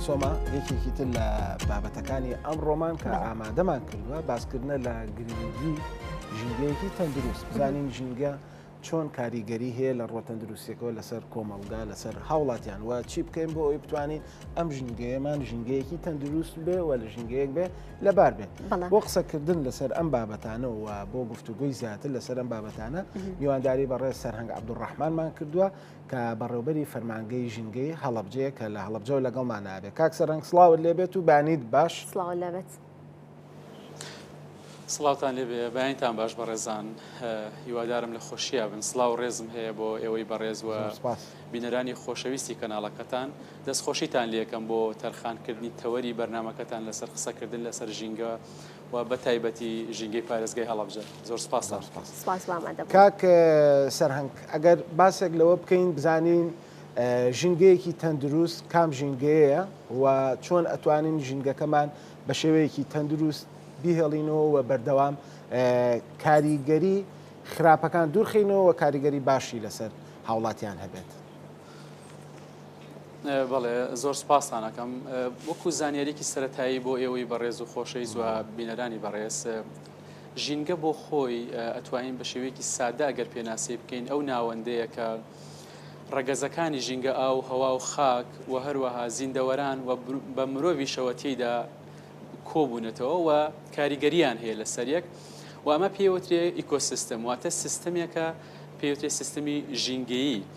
سۆما یەکێکی تر لە بابەتەکانی ئەم ڕۆمان کە ئامادەمان کردووە باسکردنە لە گرنگی ژینگەیەکی تەندروست بزانین ژینگە چۆن کاریگەری هەیە لە ڕۆتەندروستیەکەەوە لەسەر کۆمەڵگا لەسەر هاوڵاتیان وە چی بکەین بۆ ئەوی بتوانین ئەم ژینگەیەمان ژینگەیەکی تەندروست بێ و لە ژینگەیەک بێ لەبار بێت بۆ قسەکردن لەسەر ئەم بابەتانەوە بۆ گفتوگوی زیاتر لەسەر ئەم بابەتانە میوانداری بەڕێ سەرهنگ عبدوڕحمانمان کردووە کە بەڕێوبەری فەرمانگەی ژینگەی هەڵەبجەیە کە لە هەڵەبجەوە لەگەڵمان نابێت کاک سەرنگ سڵاوت لێبێت و بانیت باش سڵاو لەبێت. سڵاوتان لێبێ بەیانتان باش بەڕێزان هیوادارم لە خۆشییا بن سلااو ڕێزم هەیە بۆ ئێوەی بەڕێزوە بینەرانی خۆشەویستی کەناڵەکەتان دەستخۆشیتان لەکەم بۆ تەرخانکردنی تەوەری بەرنمەکەتان لەسەر قسەکردن لەسەر ژینگە و بە تایبەتی ژینگەی پارێزگای هەڵەبجە زۆر سپاستان دەکەم. سپاس بۆ ئامادەبوونت. کاک سەرهەنگ ئەگەر باسێک لەوە بکەین بزانین ژینگەیەکی تەندروست کام ژینگەیەیە و چۆن ئەتوانین ژینگەکەمان بە شێوەیەکی تەندروست بیهێڵینەوە و بەردەوام کاریگەری خراپەکان دوورخینەوە و کاریگەری باشی لەسەر هاوڵاتیان هەبێت. بەڵێ زۆر سپاستان ئەکەم وەکو زانیاریکی سەتایی بۆ ئێوەی بەڕێز و خۆشەی زوە بینەرانی بەڕێز ژینگە بۆ خۆی ئەتوانین بە شێوەیەکی سادە ئەگەر پێناسی بکەین ئەو ناوەندەیە کە ڕەگەزەکانی ژینگە ئاو هەوا و خاک و هەروەها زیندەوەران و بە مرۆڤیشەوە تێیدا کۆبوونەتەوە و کاریگەریان هەیە لە سەریەک و ئەمە پێوترێ ئیکۆسیستم واتە سیستمێکە پێوترێ سیستمی ژینگەیی.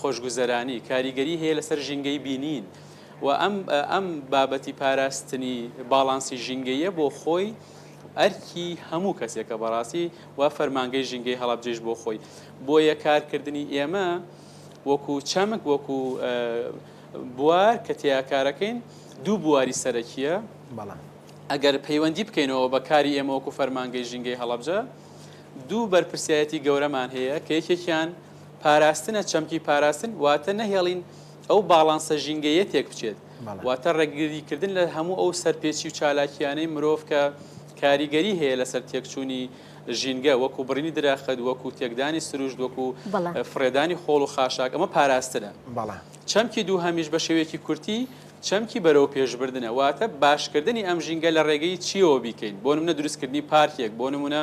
خۆشگوزەرانی، کاریگەری هەیە لەسەر ژینگەی بینین و ئەم ئەم بابەتی پاراستنی باڵانسی ژینگەییە بۆ خۆی ئەرکی هەموو کەسێکە بەڕاستی وا فەرمانگەی ژینگەی هەڵەبجەیش بۆ خۆی بۆیە کارکردنی ئێمە وەکو چەمک وەکو بوار کە تیا کارەکەین دوو بواری سەرەکیە بەڵام ئەگەر پەیوەندی بکەینەوە بە کاری ئێمە وەکو فەرمانگەی ژینگەی هەڵەبجە دوو بەرپرسایەتی گەورەمان هەیە کە یەکێکیان پاراستنە، چەمکی پاراستن واتە نەهێڵین ئەو باڵانسە ژینگەییە تێکبچێت، واتە ڕێگریکردن لە هەموو ئەو سەرپێچی و چالاکییانەی مرۆڤ کە کاریگەری هەیە لەسەر تێکچوونی ژینگە، وەکو بڕینی درەخت، وەکو تێکدانی سروشت، وەکو فڕێدانی خۆڵ و خاشاک، ئەمە پاراستنە. چەمکی دووهەمیش بە شێوەیەکی کورتی چەمکی بەرەوپێشبردنە، واتە باشکردنی ئەم ژینگە لە ڕێگەی چییەوە بیکەین، بۆ نموونە دروستکردنی پارکێک، بۆ نموونە،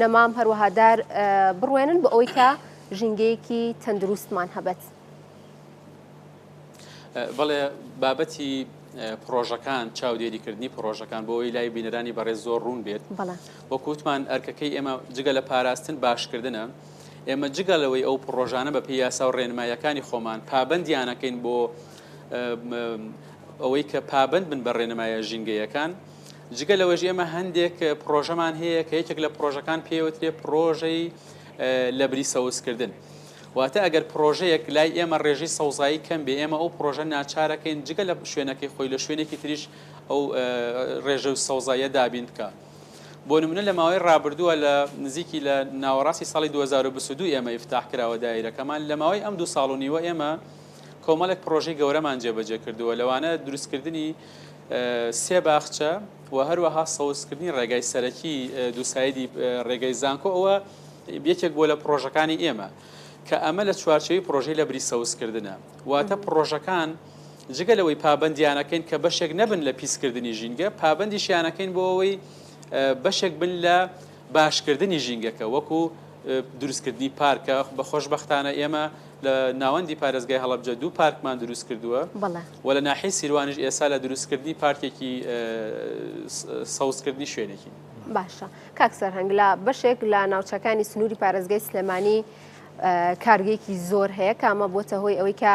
نەمام، هەروەها دار بڕوێنن بۆ ئەوەی کە ژینگەیەکی تەندروستمان هەبێت. بەڵێ بابەتی پرۆژەکان چاودێریکردنی پرۆژەکان بۆ ئەوی لای بینەرانی بەڕێز زۆر ڕوون بێت وەکووتمان ئەرکەکەی ئێمە جگە لە پاراستن باشکردنە ئێمە جگە لەوەی ئەو پرۆژانە بە پێی یاسا و ڕێنمایەکانی خۆمان پابندیانەکەین بۆ ئەوەی کە پابند بن بە ڕێنمایە ژینگەیەکان جگە لەوەش ئێمە هەندێک پڕۆژەمان هەیە کە یەکێک لە پڕۆژەکان پێوترێ پڕۆژەی لەبری سەوزکردن. واتە ئەگەر پرۆژەیەک لای ئێمە ڕێژی سەوزایی کەم بێ ئێمە ئەو پرۆژە ناچارەکەین جگە لە شوێنەکەی خۆی لە شوێنێکی تریش ئەو ڕێژە و سەوزایە دابین بکە. بۆ نمونە لە ماوەی ڕابردووە لە نزیکی لە ناوەڕاستی ساڵی 2022 ئێمە ئفتاح کراوە دایرەکەمان لە ماوەی ئەم دوو ساڵ و نیوە ئێمە کۆمەڵێک پرۆژەی گەورەمان جێبەجێ کردووە لەوانە دروستکردنی سێ باخچە و هەروەها سەوزکردنی ڕێگای سەرەکی دووسایدی ڕێگەی زانکۆ ئەوە یەکێک بۆ لە پرۆژەکانی ئێمە کە ئەمە لە چوارچەوی پرۆژەی لە بری سەوزکردنە واتە پرۆژەکان جگە لەوەی پابندیانەکەین کە بەشێک نەبن لە پیسکردنی ژینگە پابندیشیانەکەین بۆ ئەوەی بەشێک بن لە باشکردنی ژینگەکە وەکو دروستکردنی پارکە، خۆشبەختانە ئێمە لە ناوەندی پارێزگای هەڵەبجە دوو پارکمان دروستکردووە و لە ناحیەی سیروانیش ئێستا لە دروستکردنی پارکێکی سەوزکردنی شوێنێکین. باشە کاک سەرهەنگ لە بەشێک لە ناوچەکانی سنووری پارێزگای سلێمانی کارگەیەکی زۆر هەیە کە ئەمە بۆتە هۆی ئەوەی کە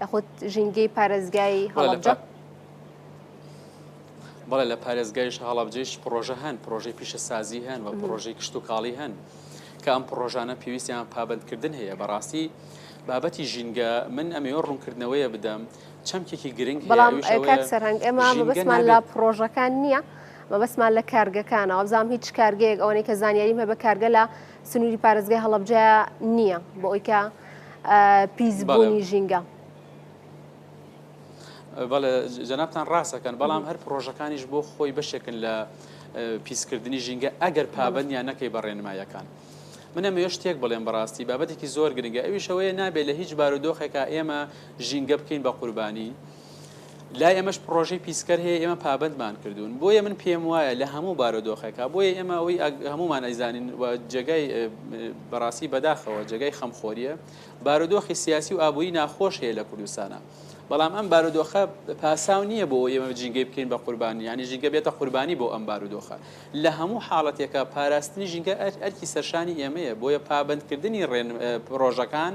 یاخود ژینگەی پارێزگای هەڵەبجە؟ بەڵێ لە پارێزگایش هەڵەبجەیش پرۆژە هەن پرۆژەی پیشەسازی هەن و پرۆژەی کشتتوکاڵی هەن کە ئەم پرۆژانە پێویستیان پابندکردن هەیە بەڕاستی بابەتی ژینگە من ئەمەوە ڕوونکردنەوەیە بدەم چەمکێکی گرنگ بەڵام سەرنگ ئێمە بەسمان لە پرۆژەکان نییە. مەبەسمان لە کارگەکانەوە بزانام هیچ کارگەیەک ئەوەی کە زانیاریم هە بە کارگە لە سنوری پارێزگای هەڵەبجە نییە بۆ ئەوی کە پیسبوونی ژینگە. بەڵێ جەنابان ڕاستەکەن بەڵام هەر پرۆژەکانیش بۆ خۆی بەشێکن لە پیسکردنی ژینگە ئەگەر پابندیان نەکەی بە ڕێنمایەکان. منە مێ شتێک بڵێن بەڕاستی بابەتێکی زۆر گرنگە ئەویشەوەیە نابێت لە هیچ بارودۆخێکە ئێمە ژینگە بکەین بە قوربانی لای ئێمەش پڕۆژەی پیسکەر هەیە ئێمە پابەندمان کردوون بۆیە من پێم وایە لە هەموو بارۆدۆخێکا بۆیە ئێمە ئەوی هەمومان ئەیزانین و جێگای بەڕاستی بەداخەوە جێگای خەمخۆریە بارودۆخی سیاسی و ئابووری ناخۆش هەیە لە کوردستانە بەڵام ئەم بارودۆخە پاساو نییە بۆ ئێمە جینگەی بکەین بە قوربانی ینی ژینگە بێتە قوربانی بۆ ئەم بارودۆخە لە هەموو حاڵەتێکە پاراستنی ژینگە ئەرکی سەرشانی ئێمەیە بۆیە پابندکردنی ڕێن پرۆژەکان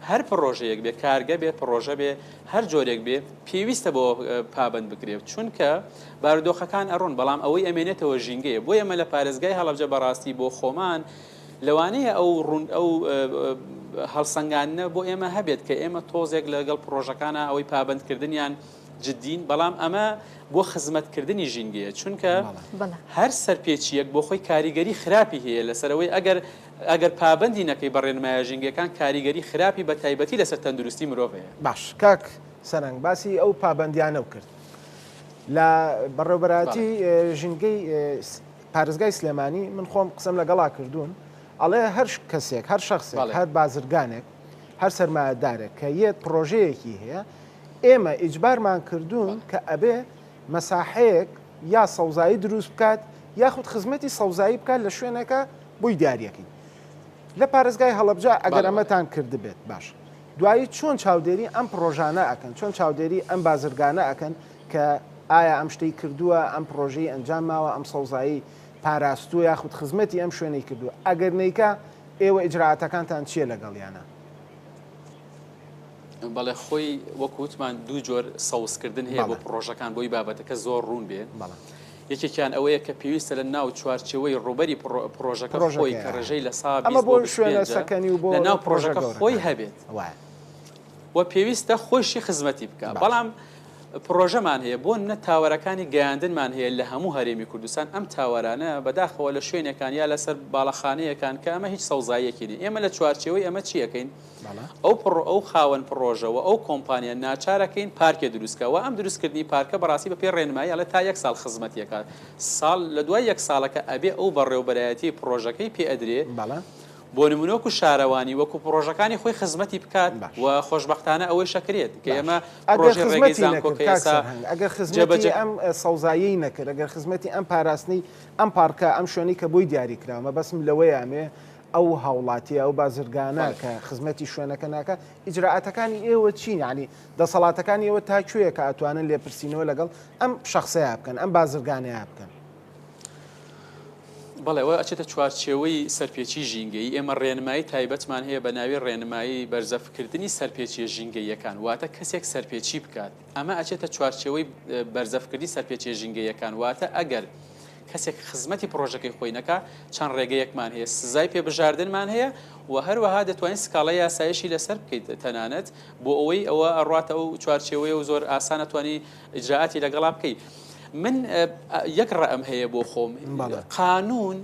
هەر پرۆژەیەک بێ کارگە بێ پرۆژە بێ هەر جۆرێک بێ پێویستە بەوە پابەند بکرێت چونکە بارودۆخەکان ئەڕۆن بەڵام ئەوەی ئەمێنێتەوە ژینگەیە بۆیە ئێمە لە پارێزگای هەڵەبجە بەڕاستی بۆ خۆمان لەوانەیە ئەو ڕوون ئەو هەڵسەنگاندنە بۆ ئێمە هەبێت کە ئێمە تۆزێک لەگەڵ پرۆژەکانە ئەوەی پابەندکردنیان جدین بەڵام ئەمە بۆ خزمەتکردنی ژینگەیە چونکە بەڵێ. هەر سەرپێچیەک بۆ خۆی کاریگەری خراپی هەیە لەسەرەوەی ئەگەر ئەگەر پابەندی نەکەی بە ڕێنمایە ژینگەکان کاریگەری خراپی بە تایبەتی لەسەر تەندروستی مرۆڤ هەیە. باش کاک سەرەنگ باسی ئەو پابەندیانەو کرد لە بەڕێوبەرایەتی ژینگەی پارێزگای سلێمانی من خۆم قسەم لەگەڵا کردوون ئەڵێ هەر کەسێک هەر شخصێک هەر بازرگانێک هەر سەرمایەدارێک کە یەت پرۆژەیەکی هەیە ئێمە ئیجبارمان کردوون کە ئەبێ مەساحەیەک یا سەوزایی دروست بکات یاخود خزمەتی سەوزایی بکات لە شوێنەکە بوی دیاریەکەی لە پارێزگای هەڵەبجە ئەگەر ئەمەتان کردبێت باش دوایی چۆن چاودێری ئەم پرۆژانە ئەکەن چۆن چاودێری ئەم بازرگانە ئەکەن کە ئایا ئەم شتەی کردووە ئەم پرۆژەی ئەنجام ماوە ئەم سەوزایی پاراستوو یاخود خزمەتی ئەم شوێنەی کردووە ئەگەر نیکە ئێوە ئجرراعاتەکانتان چییە لەگەڵیانە بەڵێ خۆی وەکووتمان دوو جۆر سەوزکردن هەیە بۆ پرۆژەکان بۆی بابەتەکە زۆر ڕوون بێ بەڵام. یەکێکیان ئەوەیە کە پێویستە لە ناو چوارچێوەی ڕووبەری پڕۆژەکە خۆی کە ڕێژەی لە سا بیست بۆ بیست و پێنجە لە ناو پڕۆژەکە خۆی هەبێت و پێویستە خۆیشی خزمەتی بکات بەڵام پرۆژەمان هەیە بۆ نە تاوەرەکانی گەیاندنمان هەیە لە هەموو هەرێمی کوردستان ئەم تاوەرانە بەداخەوە لە شوێنەکان یا لەسەر باڵەخانەیەکان کە ئەمە هیچ سەوزاییەکی نیە ئێمە لە چوارچەوەی ئەمە چیەکەین ئەو پڕۆ ئەو خاوەن پڕۆژە وە ئەو کۆمپانیا ناچارە کەین پارکێ دروست کە وە ئەم دروست کردنی پارکە بەڕاستی بە پێی ڕێنمایی ئەڵێ تا یەک ساڵ خزمەتی ئەکات ساڵ لە دوای یەک ساڵەکە ئەبێ ئەو بەڕێوبەرایەتی پڕۆژەکەی پێ ئەدرێ بۆ نمونە وەکو شارەوانی وەکو پڕۆژەکانی خۆی خزمەتی بکات وە خۆشبەختانە ئەوەیش ئەکرێت کە ئێمە ئەگەر خزمەتی نەکرد کاک سەرهەنگ ئەگەر خزمەتی ئەم سەوزاییەی نەکرد ئەگەر خزمەتی ئەم پاراستنی ئەم پارکە ئەم شوێنەی کە بۆی دیاری کراوە مەبەستم لەوەیە ئەمێ ئەو هاوڵاتیە ئەو بازرگانە کە خزمەتی شوێنەکە ناکە ئیجرراعاتەکانی ئێوە چین ینی دەسەڵاتەکانی ئێوە تا کوێیە کە ئەتوانن لێپرسینەوە لەگەڵ ئەم شخصەیە بکەن ئەم بازرگانەیە بکەن بەڵێەوە ئەچێتە چوارچێوەی سەرپێچی ژینگەی ئێمە ڕێنمایی تایبەتمان هەیە بە ناوی ڕێنمایی بەرزەفکردنی سەرپێچیە ژینگەیەکان واتە کەسێک سەرپێچی بکات ئەمە ئەچێتە چوارچێوەی بەرزەفکردنی سەرپێچێ ژینگەیەکان واتە ئەگەر کەسێک خزمەتی پڕۆژەکەی خۆی نەکا، چەند ڕێگەیەکمان هەیە سزای پێ بژاردنمان هەیە و هەروەها دەتوانیت سکاڵای یاساییشی لەسەر بکەیت تەنانەت بۆ ئەوەی ئەوە ئەڕواتە ئەو چوارچێوەیە و زۆر ئاسان ئەتوانی ئیجرائاتی لەگەڵا بکەی. من یەک ڕەئم هەیە بۆ خۆم قانوون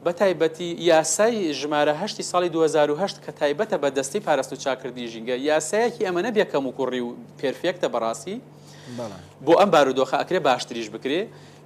بە تایبەتی یاسای ژمارە هەشتی ساڵی دوو هەزار و هەشت کە تایبەتە بە دەستەی پاراستن و چاککردنی ژینگە یاسایەکی ئەمەنە بێ کەموکوڕی و پێرفێکتە بەڕاستی بۆ ئەم بارودۆخە ئەکرێ باشتریش بکرێ.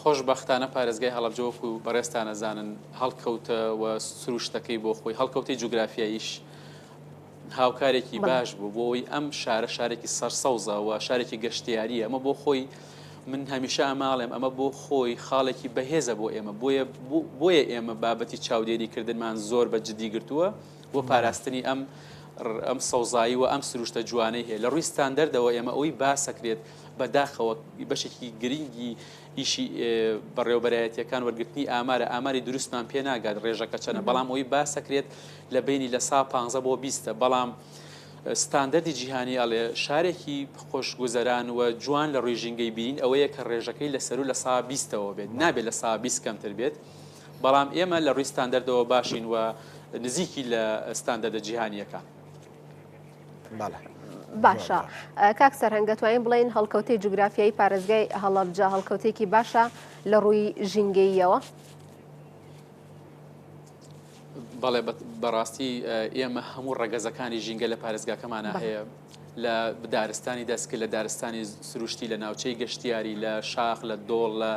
خۆشبەختانە پارێزگای هەڵەبجە وەکو بەڕێزتان ئەزانن هەڵکەوتە و سروشتەکەی بۆ خۆی هەڵکەوتەی جوگرافیاییش هاوکارێکی باش بوو بۆی ئەم شارە شارێکی سەرسەوزە و شارێکی گەشتیاری ئەمە بۆ خۆی من هەمیشە ئەماڵێم ئەمە بۆ خۆی خاڵێکی بەهێزە بۆ ئێمە بۆیە بۆیە ئێمە بابەتی چاودێری کردنمان زۆر بە جدی گرتووە بۆ پاراستنی ئەم ئەم سەوزایی و ئەم سروشتە جوانەی هەیە لە ڕووی ستاندەردەوە ئێمە ئەوەی باسەکرێت بە داخەوە بەشێکی گرنگی ئیشی بەڕێوبەرایەتەکان وەرگرتنی ئامارە ئاماری دروستمان پێ ناگات ڕێژەکە چەنە بەڵام ئەوی باسەکرێت لە بینی لە سا پ بۆ بیستە بەڵام ستاندەری جیهانی ئەڵێ شارێکی خۆش گوزەران و جوان لە ڕووی ژینگەی بین ئەوەیە کە ڕێژەکەی لە سەر و لە سا بیستەوە بێت نابێت لە سا بیست کەمتر بێت. بەڵام ئێمە لە ڕووی ستاندەردەوە باشین و نزیکی لە ستاندەدە جیهانیەکان. باشە کاک سەرهنگ دەتوانین بڵین هەڵکەوتی جوگرافیایی پارێزگای هەڵەبجە هەڵکەوتێکی باشە لە ڕووی ژینگەیەوە. بەڵێ بەڕاستی ئێمە هەموو ڕەگەزەکانی ژینگە لە پارێزگاکەمانە هەیە لە دارستانی دەسکە، لە دارستانی سروشتی، لە ناوچەی گەشتیاری، لە شاخ، لە دۆڵ، لە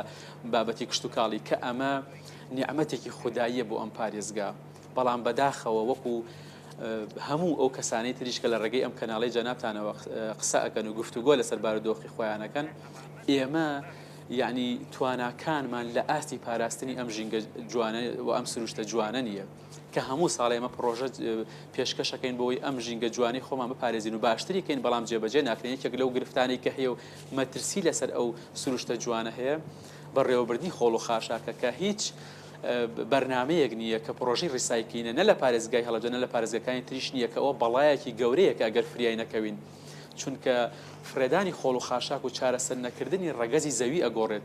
بابەتی کشتوکاڵی کە ئەمە نیعممەتێکی خودداییە بۆ ئەم پارێزگا بەڵام بەداخەوە وەکو هەموو ئەو کەسانی تریش کە لە ڕێگەی ئەم کەناڵی جەنابتانەوە قسە ئەەکەن و گفتوگۆ لەسەر بارودۆخی خۆیانەکەن ئێمە یعنی تواناکانمان لە ئاستی پاراستنی ئەم ژینگە جوانە و ئەم سروشتە جوانە نیە. کە هەموو ساڵێ ئێمە پڕۆژە پێشکەشەکەین بۆی ئەم ژینگە جوانی خۆمان بپارێزین و باشتری کەین بەڵام جێبەجێ ناکرێن یەکێک لەو گرفتانی کە هەیە و مەترسی لەسەر ئەو سروشتە جوانە هەیە بەڕێوەبردنی خۆڵ و خاشاکە کە هیچ بەرنمەیەک نییە کە پرۆژی ریسایکلینە نە لە پارێزگای هەڵەدەنە لە پارێزگەکانی تریش نییە کە ئەوە بەڵایەکی گەورەیەکە ئەگەر فریای نەکەوین چونکە فرێدانی خۆڵ و خاشاک و چارەسەر نەکردنی ڕەگەزی زەوی ئەگۆڕێت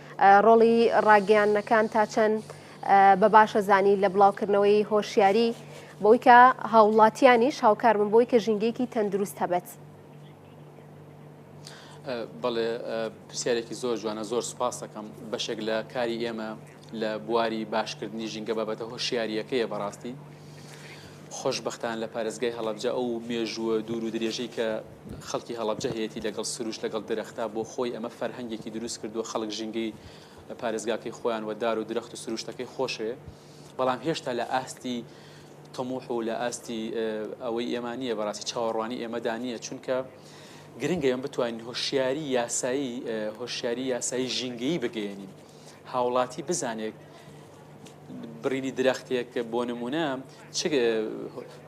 ڕۆڵی ڕاگەیاندنەکان تا چەند بە باشە زانی لە بڵاوکردنەوەی هۆشیاری بۆی کە هاوڵاتیانیش هاوکار بن بۆی کە ژینگەیەکی تەندروست هەبێت. بەڵێ پرسیارێکی زۆر جوانە زۆر سپاس دەکەم بەشێک لە کاری ئێمە لە بواری باشکردنی ژینگە بابەتە هۆشیاریەکەیە بەڕاستی خۆشببختان لە پارێزگای هەڵەبجە ئەو مێژووە دوور و درێژەی کە خەڵکی هەڵەبجە هەیەتی لەگەڵ سروشت لەگەڵ درەختا بۆ خۆی ئەمە فەرهەنگێکی دروست کردووە خەڵک ژینگەی پارێزگاکەی خۆیان وە دار و درەخت و سروشتەکەی خۆشێ بەڵام هێشتا لە ئاستی تەموح و لە ئاستی ئەوەی ئێمانە بەڕاستی چاوەڕوانی ئێمەدا نییە چونکە گرنگە ئەم بتوانین هۆشیاری یاسایی هۆشیاری یاسایی ژینگەیی بگەێنین هاوڵاتی بزانێت بڕینی درەختێک بۆ نمونە چ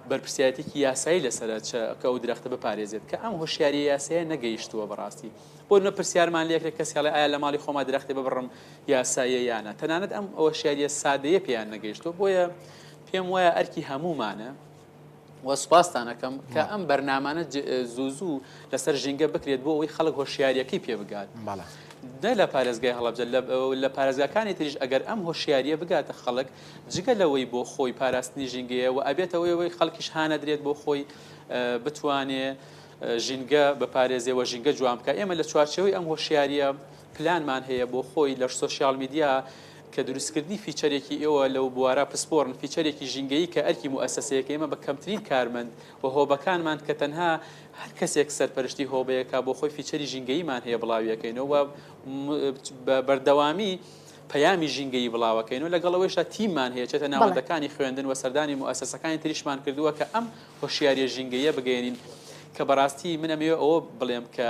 بەرپسیاتێکی یاسایی لەسرە کە ئەو درەختە بپارێزێت کە ئەم هۆشیاری یاسەیە نەگەیشتووە بەڕاستی بۆ نە پرسیارمان لەکرێ کەسیڵی ئایا لە ماڵی خۆما درەختی ببڕم یاساییە یانە تەنانەت ئەم ئەوە شاریە سادەیە پێیان نەگەیشتوە بۆیە پێم وایە ئەرکی هەمومانە وە سوپاستان ئەکەم کە ئەم بەرنامانە زوو زوو لەسەر ژینگە بکرێت بۆ ئەوی خەڵک هۆشیاریەکەی پێ بگات دە لە پارێزگای هەڵبجە لە پارێزگاکانی تریش ئەگەر ئەم هۆشیاریە بگاتە خەڵک جگە لەوەی بۆ خۆی پاراستنی ژینگەیە و ئەبێتەوەیەوەی خەڵکیش هاانەدرێت بۆ خۆی بتوانێ ژینگە بە پارێزیەوە ژینگە جوام بکە ئێمە لە چوارچەوەی ئەم هۆشیاریە پلانمان هەیە بۆ خۆی لە سۆشیال میدیا کە دروستکردنی فیچەرێکی ئێوە لەو بوارە پسپۆڕن فیچەرێکی ژینگەیی کە ئەرکی موئەسەسەیەکە ئێمە بە کەمترین کارمەند و هۆبەکانمان کە تەنها هەر کەسێک سەرپەرشتی هۆبەیەکە بۆ خۆی فیچەری ژینگەییمان هەیە بڵاویەکەینەوە و بە بەردەوامی پەیامی ژینگەیی بڵاوەکەین و لەگەڵ ئەوەیشا تیممان هەیە چێتە ناوەندەکانی خوێندن و سەردانی موئەسەسەکانی تریشمان کردووە کە ئەم هۆشیاریە ژینگەیە بگەێنین کە بەڕاستی منەمەوێ ئەوە بڵێم کە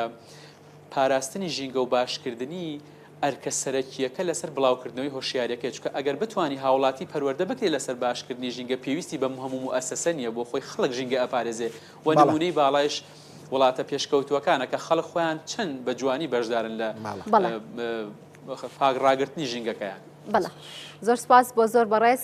پاراستنی ژینگە و باشکردنی ئەرکە سەرەکییەکە لەسەر بڵاوکردنەوەی هۆشیارییەکەیە، چونکە ئەگەر بتوانی هاوڵاتی پەروەردە بکرێت لەسەر باشکردنی ژینگە پێویستی بە مهموو موئەسەسە نییە بۆ خۆی خەڵک ژینگە ئەپارێزێت و نموونەی باڵایش وڵاتە پێشکەوتووەکانە کە خەڵک خۆیان چەند بە جوانی بەشدارن لە پاک ڕاگرتنی ژینگەکەیان. بەڵێ زۆر سوپاس بۆ زۆر بەڕێز.